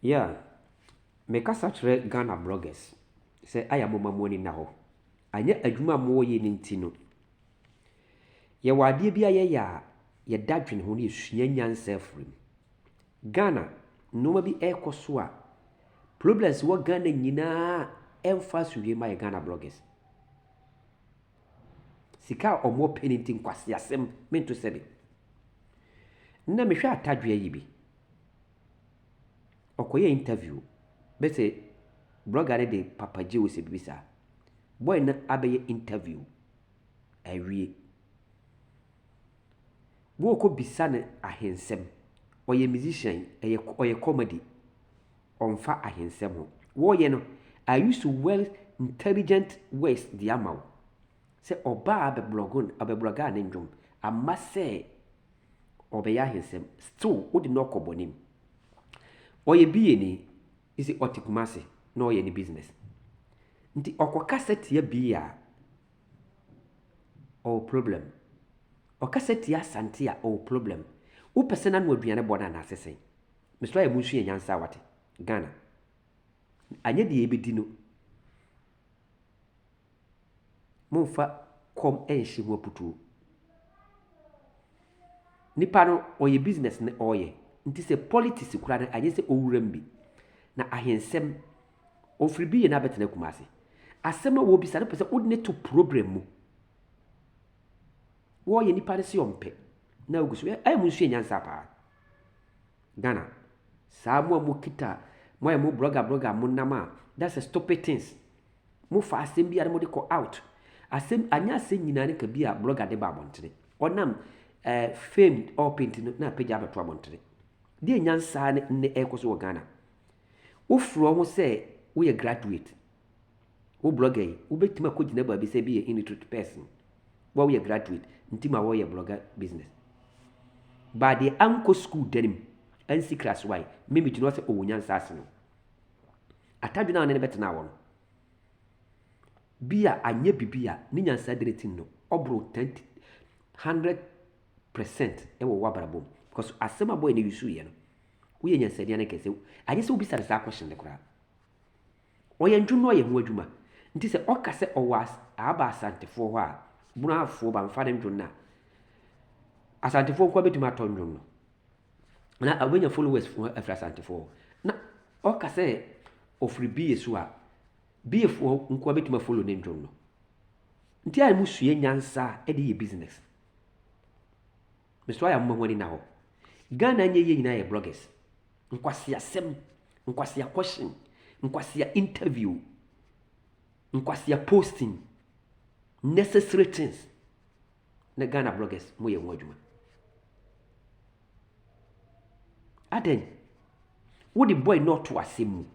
Yeah, me kasa kyerɛ Ghana bloggers sɛ ayɛ a momma mo ani nna hɔ. Anyɛ adwuma a mowɔ yɛ no nti no, yɛwɔ adeɛ bi a yɛyɛ a yɛda dwene ho na yɛsua nyansa afiri mu. Ghana, nneɛma bi ɛrekɔ so a, problems wɔ Ghana nyinaa ɛmfa asomdwe ma yɛ Ghana bloggers. Sika a wɔwɔ pɛ no nti nkwaseasɛm mento sɛbe. Nnɛ mehwɛ atadwe ayi bi. ɔkɔyɛɛ interview bɛ sɛ blɔga no de Papa Gye wo sɛ biribi saa. Bɔy no abɛyɛ interview awie. Wɔɔkɔbisa no ahensɛm. Ɔyɛ musician, ɛyɛ ɔyɛ comedy. Ɔmfa ahensɛm ho. Wɔɔyɛ no, I use well intelligent words de ama wo. Sɛ ɔbaa abɛblɔgo no, abɛblɔgaa ne nnwom. Amma sɛ. ɔbɛyɛ ahensɛm still wo de no ɔkɔ bɔne mu ɔyɛ BA ni isi ɔte Kumasi na ɔyɛ ne business nti ɔkɔ kasa tia BA a ɔwɔ problem ɔkasa tia Asante a ɔwɔ problem wo pɛ sɛ n'ano aduane bɔ no anaase sɛn mesrɛ ayɛ mu nsua nyansa wate Ghana anyɛ deɛ yɛbɛdi no Mommfa kɔm nnhye mo aputuo. Nipa no ɔyɛ business na ɔreyɛ nti sɛ politics koraa no anyɛ sɛ ɔwura mu bi na ahensɛm ɔfiri bi yɛ na abɛtena Kumasi. Asɛm a wɔrebisa no pɛ sɛ wode no to problem mu. Wɔreyɛ nipa no sɛ ɔmpɛ na wogu so. Ɛyɛ mo nsua nyansa paa. Ghana. Saa mo a mo kita mo ayɛ mo brɔga brɔga mo nam a that's a stupid things. Mo fa asɛm biara mo de kɔ out. Asɛm anyɛ asɛm nyinaa ne ka bi a brɔga de ba abɔntene. Ɔnam eh, fame ɔɔpɛ nti no na apagya abɛto abɔntene. Deɛ nyansa ne nnɛ ɛrekɔ so wɔ Ghana. Wofrɛ wo ho sɛ woyɛ graduate. Wo blɔga yi, wobɛtumi akɔgyina baabi sɛ bi yɛ illiterate person, wa woyɛ graduate, nti ma wɔyɛ blɔga business. Ba deɛ ankɔ sukuu da no mu, ansi class y, me megyina hɔ sɛ ɔwɔ nyansa ase no, atadwene a ɔne no bɛtena awɔ no, bi a anyɛ bibi a ne nyansa dene ti no, ɔboro 10 100 percent wɔ w'abrabɔ mu. Because asɛm a bɔyɛ no yusuiɛ no, woyɛ nyansani ankɛse. Anyɛ sɛ wobisa no saa question no koraa. Ɔyɛ ntwonoo yɛ ho adwuma nti sɛ ɔka sɛ ɔwɔ as aba Asantefoɔ hɔ a Bunafoɔ ba mfa ne ntwon no a Asantefoɔ nkoa bɛtumi atɔ ntwon no na ɔbɛnya followers fo afiri Asantefoɔ hɔ na ɔka sɛ ɔfiri Bie so a Biefoɔ nkoa bɛtumi afollow ne ntwon no nti a ɛmu sua nyansa de yɛ business. Mesua yɛ a moma ho ani nna hɔ. Ghana nyɛ yie nyinaa yɛ bloggers nkwaseasɛm nkwasea question nkwasea interview nkwasea posting necessary things na Ghana bloggers mo yɛ wɔn adwuma adɛn wode boy no ɔto asɛm mu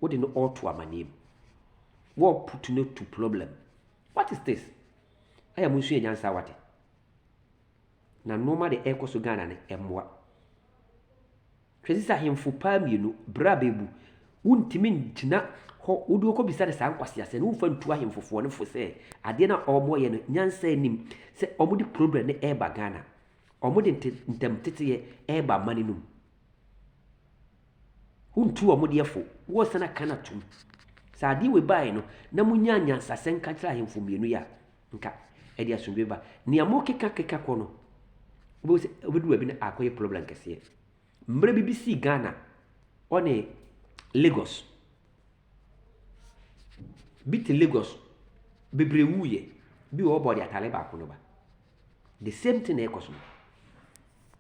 wode no ɔto amaneɛ mu wɔput no to problem what is this ɛyɛ mo nso yɛ nyansa wate Na nnoɔma de ɛkɔ so Ghana no ɛmmoa. Hwɛ sisi ahemfo paa mmienu bra bɛɛbu wontumi ngyina hɔ wode ɔkɔ bisa no saa nkwaseasɛ no wofa ntu ahemfo foɔ no fo sɛ adeɛ no a ɔmo yɛ no nyansa anim sɛ ɔmo de problem no ɛɛba Ghana ɔmo de ntɛm teteyɛ ɛɛba ama no num wontu ɔmo deɛ fo wɔsan aka no atum sɛ adeɛ wei baeɛ no na mo nyaa nyansasɛ nka kyerɛ ahemfo mmienu yɛ a nka ɛde asomdwoe ba. Nea mokekakeka kɔ no, wobɛhu sɛ wobɛduru baabi na akɔyɛ problem kɛseɛ. Mmerɛ bi bi sii Ghana, ɔne Lagos. Bi te Lagos, bebree wuiɛ. Bi wɔ hɔ ɔbɔɔ deɛ atadeɛ baako no ba. The same thing na ɛrekɔ so no.